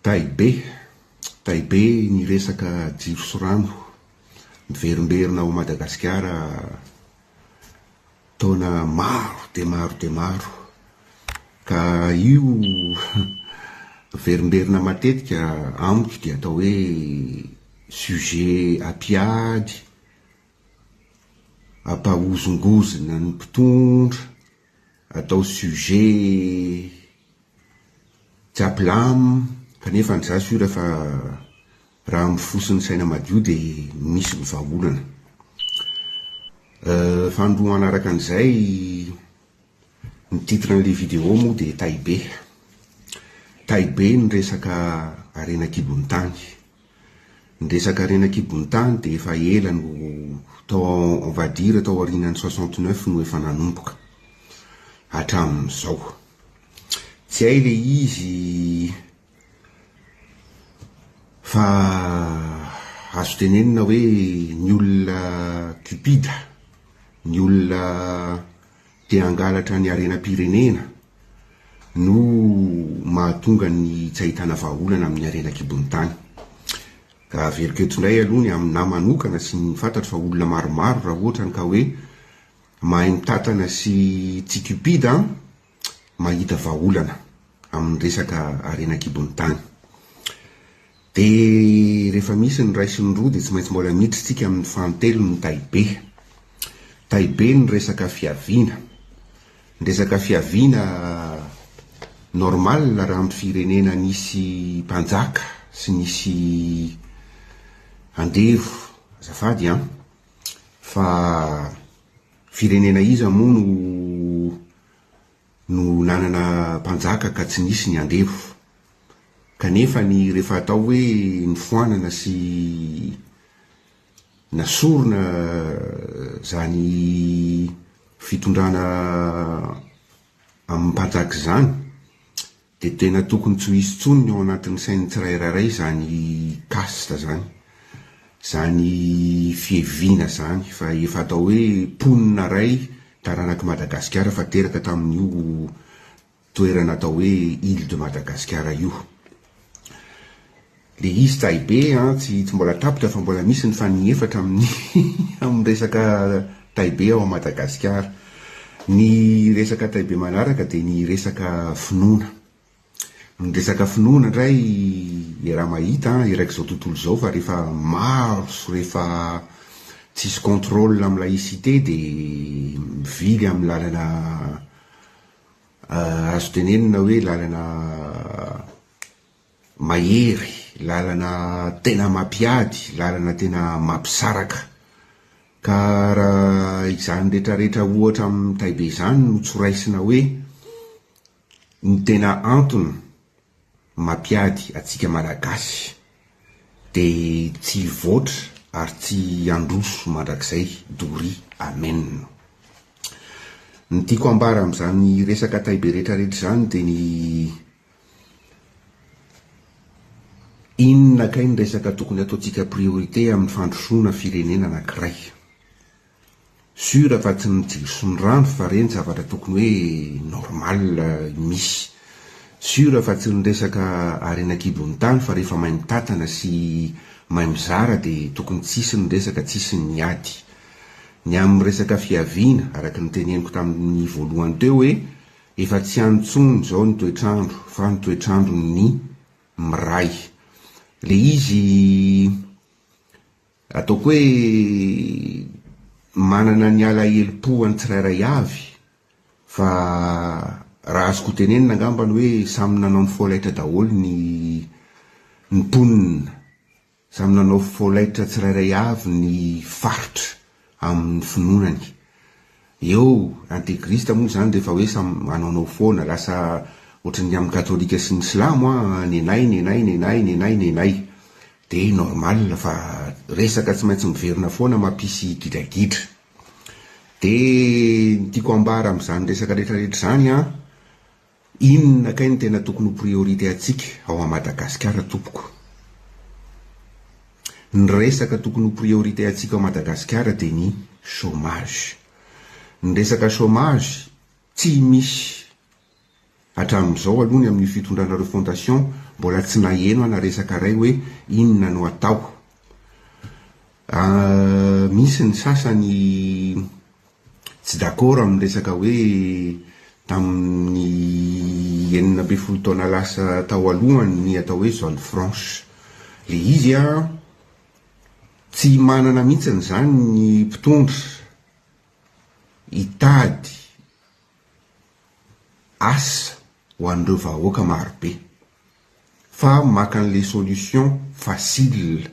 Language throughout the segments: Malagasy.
Tay be, tay be ny resaka jiro sy rano. Miverimberina ao Madagasikara taona maro dia maro dia maro. Ka io miverimberina matetika amiko dia atao hoe sujet ampiady, ampahozongozona ny mpitondra. atao sujet japlam kanefa ny za sûr fa raha amin'ny fo sy ny saina madio dia misy ny vahaolana. Fahandro manaraka an'izay, ny titre an'ilay vidéo moa dia Tay Be. Tay Be ny resaka harena an-kibon'ny tany. Ny resaka harena an-kibon'ny tany dia efa ela no tao on va dire tao aorianan'ny soixante neuf no efa nanomboka hatramin'izao. Tsy hay ilay izy fa azo tenenina hoe ny olona cupide, ny olona Dia hangalatra ny harenam-pirenena no mahatonga ny tsy ahitana vahaolana amin'ny harena an-kibon'ny tany. Ka averiko eto indray aloha ny aminà manokana sy ny fantatro fa olona maromaro raha ohatra ny ka hoe mahay mitantana sy tsy cupide an, mahita vahaolana amin'ny resaka harena an-kibon'ny tany. Dia rehefa misy ny iray sy ny roa dia tsy maintsy mbola miditra isika amin'ny fanintelony ny tahibe. Tahibe ny resaka fiaviana. Ny resaka fiaviana normal raha amin'ny firenena nisy mpanjaka sy nisy andevo azafady an! Fa firenena iza moa no no nanana mpanjaka ka tsy nisy ny andevo? Kanefa ny rehefa atao hoe nifoanana sy nasorona izany fitondrana amim-panjaka izany dia tena tokony tsy ho hisy intsony ny ao anatin'ny sain'ny tsirairairay izany caste izany, izany fiheviana izany fa efa atao hoe mponina iray taranak'i Madagasikara fa teraka tamin'io toerana atao hoe Ile de Madagascar io. Le izy tsahy be an, tsy tsy mbola tapitra fa mbola misy ny fanigny efatra amin'ny amin'ny resaka tay be ao Madagasikara. Ny resaka tay be manaraka dia ny resaka finoana. Ny resaka finoana indray iaraha mahita an, eraky izao tontolo izao fa rehefa maro sy rehefa tsisy contrôle amin'ny laïcité dia mivily amin'ny lalana Azo tenenina hoe lalana mahery, lalana tena mampiady, lalana tena mampisaraka. Ka raha izany rehetrarehetra ohatra amin'i Taibe izany no tsy ho raisina hoe ny tena antony Mampiady atsika Malagasy de tsy hivoatra ary tsy handroso mandrakizay doria Amen. Ny tiako ambara amzany resaka tay be retra retra zany de ny inona kay ny resaka tokony ataontsika priorité aminy fandrosoana firenena anakiray. Sur fa tsy ny jiro sy ny rano fa reny zavatra tokony hoe normal misy. Sur fa tsy ny resaka harena kibon'ny tany fa rehefa mahay mitantana sy mahay mizara dia tokony tsy hisy ny resaka tsy hisy ny ady. Ny amin'ny resaka fiaviana araka ny teneniko tamin'ny voalohany teo hoe efa tsy any intsony izao ny toetr'andro fa ny toetr'andron'ny miray. Ilay izy Ataoko hoe manana ny alahelom-po an'ny tsirairay avy fa raha azoko ho tenenina angambany hoe samy nanao ny folaitra daholo ny mponina, samy nanao folaitra tsirairay avy ny faritra. amin'ny finoanany. Eo integriste moa izany rehefa hoe samy manaonao foana, lasa ohatran'ny amin'ny katolika sy ny silamo an, nenay, nenay, nenay, nenay, nenay. Dia normal fa resaka tsy maintsy miverina foana mampisy gidragidra. Dia ny tiako ambara amin'izany resaka rehetra rehetra izany an, Inona kay no tena tokony ho priorité antsika ao à Madagasikara tompoko? Ny resaka tokony ho priorité antsika ao Madagasikara dia ny chômage. Ny resaka chômage tsy misy hatramin'izao aloha ny amin'io fitondranareo fondation mbola tsy naheno ana resaka ray hoe inona no atao. Misy ny sasany Tsy d'accord amin'ny resaka hoe tamin'ny enina ambin'ny folo taona lasa tao aloha ny atao hoe zone franche. Ilay izy an, tsy manana mihitsy izany ny mpitondra hitady asa ho an'ireo vahoaka marobe. fa maka an'ilay solution facile,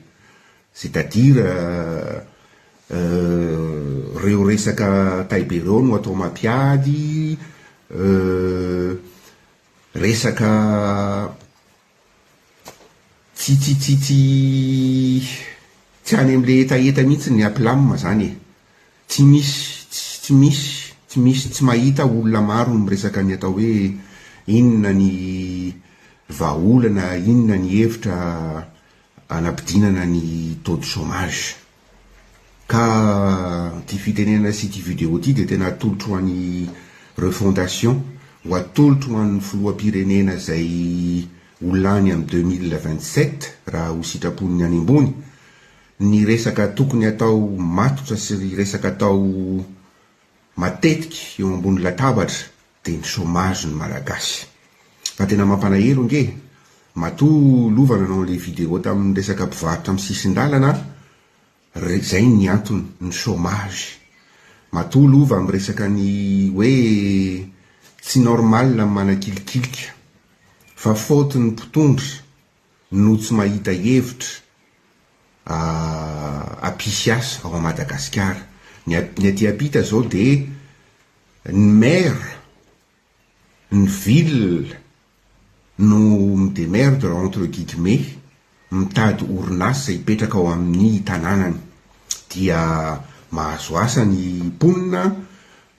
c'est à dire ireo resaka tay be ireo no atao mampiady, resaka tsy tsy tsy tsy any amin'ilay hetaheta mihintsy ny aplam zany e. Tsy misy tsy misy tsy misy tsy mahita olona maro miresaka ny atao hoe inona ny vahaolana inona ny hevitra anabidinana ny taux de chômage ka ity fitenenana sy ity video ity dia tena atolotro ho an'i refondation ho atolotro ho an'ny filoham-pirenena izay ho lany amin'ny deux mille vingt sept raha ho sitrapon'ny any ambony ny resaka tokony atao matotra sy ry resaka atao matetika eo ambony latabatra dia ny chômage ny malagasy fa tena mampalahelo nge matoa lova nanao an'ilay vidéo tamin'ny resaka mpivarotra amin'ny sisin-dalana ry zay ny antony ny chômage matoa lova miresaka ny hoe tsy normal ny manakilikilika fa faute ny mpitondra no tsy mahita hevitra hampisy asa ao Madagasikara. Ny ny aty ampita zao de ny maire, ny ville no mi-demerdre entre guillemets mitady orinasa hipetraka ao amin'ny tananany dia mahazo asa ny mponina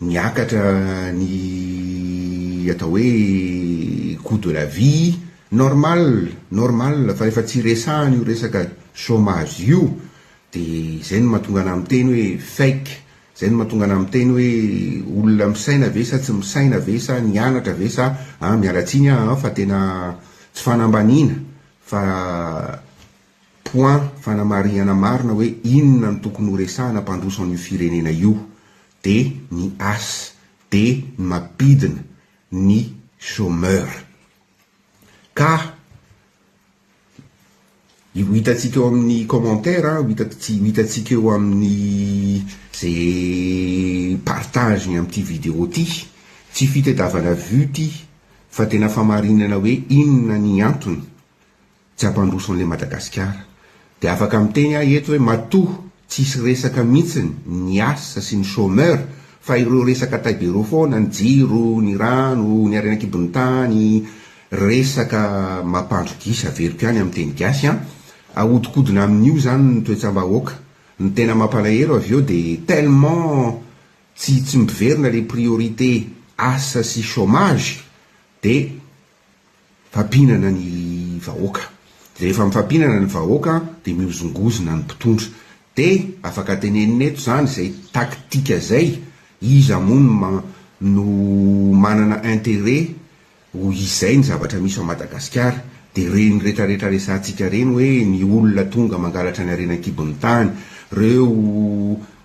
Niakatra ny atao hoe coût de la vie, normal, normal fa rehefa tsy resahana io resaka chômage io dia izay no mahatonga anà miteny hoe fake, izay no mahatonga anà miteny hoe olona misaina ve sa tsy misaina ve sa nianatra ve sa an, miala tsiny aho an fa tena tsy fanambaniana fa point fanamarihana marina hoe inona no tokony horesahana mpandroso an'io firenena io dia ny as, dia ny mampidina ny chômeur. Ka io hitantsika eo amin'ny commentaire, ho hitantsika eo amin'ny ze partage ny amin'ity vidéo ty, tsy fitadiavana vue ty fa tena famarinana hoe inona ny antony Tsy hampandroso an'ilay Madagasikara. Dia afaka miteny aho eto hoe matoa tsy hisy resaka mihitsiny ny asa sy ny chômeur fa ireo resaka tay de rô foana, ny jiro, ny rano, ny harena an-kibon'ny tany, resaka mampandro gisa averiko ihany amin'ny teny gasy an! Ahodikodina amin'io izany ny toetsam-bahoaka. Ny tena mampalahelo avy eo dia tellement tsy tsy miverina ilay priorité asa sy chômage dia Fampinana ny vahoaka. Rehefa mifampinana ny vahoaka dia mihozongozona ny mpitondra. Dia afaka tenenina eto izany izay tactique izay, iza moa no ma no manana intérêt ho izay ny zavatra misy ao Madagasikara. Dia ireny retaretra resahantsika ireny hoe ny olona tonga mangalatra ny harena an-kibon'ny tany, ireo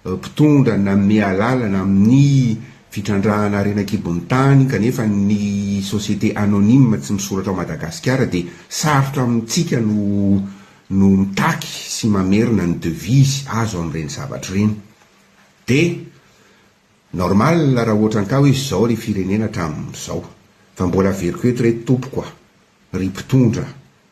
mpitondra nanome alalana amin'ny Fitrandrahana harena an-kibon'ny tany, kanefa ny société anonyme tsy misoratra ao Madagasikara dia sarotra amintsika no no mitaky sy mamerina ny devise azo amin'ireny zavatra ireny. Dia normal raha ohatra an-ka hoe izao ry firenena hatramin'izao. Fa mbola averiko eto re tompoko a! Ry mpitondra,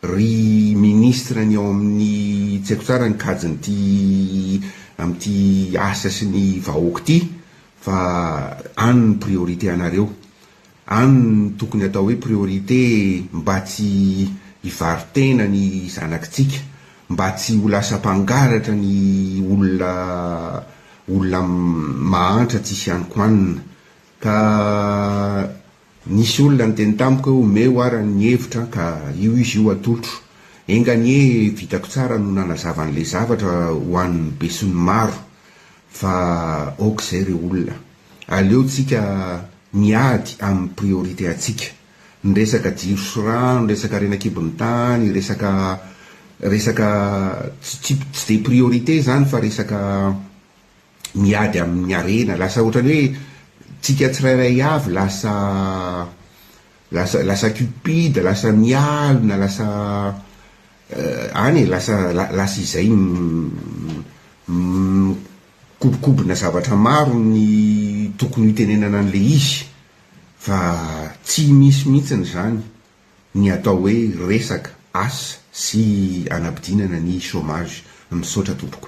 ry ministra ny ao amin'ny tsy haiko tsara ny kajin'ity amin'ity asa sy ny vahoaka ity fa any ny priorité anareo, any ny tokony atao hoe priorité mba tsy hivaro-tena ny zanakitsika, mba tsy ho lasa mpangalatra ny olona olona mahantra tsisy anikoanina ka Nisy olona niteny tamiko hoe omeo ara ny hevitra an ka io izy io atolotro. Enga anie vitako tsara no nanazava an'ilay zavatra ho an'ny besinimaro fa ok izay ry olona. Aleo tsika miady amin'ny priorité antsika. Ny resaka jiro sy rano, resaka harena kibon'ny tany, resaka resaka tsy tsy dia priorité izany fa resaka miady amin'ny harena, lasa ohatran'ny hoe tsika tsirairay avy lasa lasa lasa cupide, lasa mialona, lasa any e, lasa lasa izay mikobokobona zavatra maro ny tokony hitenenana an'ilay izy fa tsy misy mihitsiny izany ny atao hoe resaka asa sy anabdinana ny chomage. Misaotra tompoko.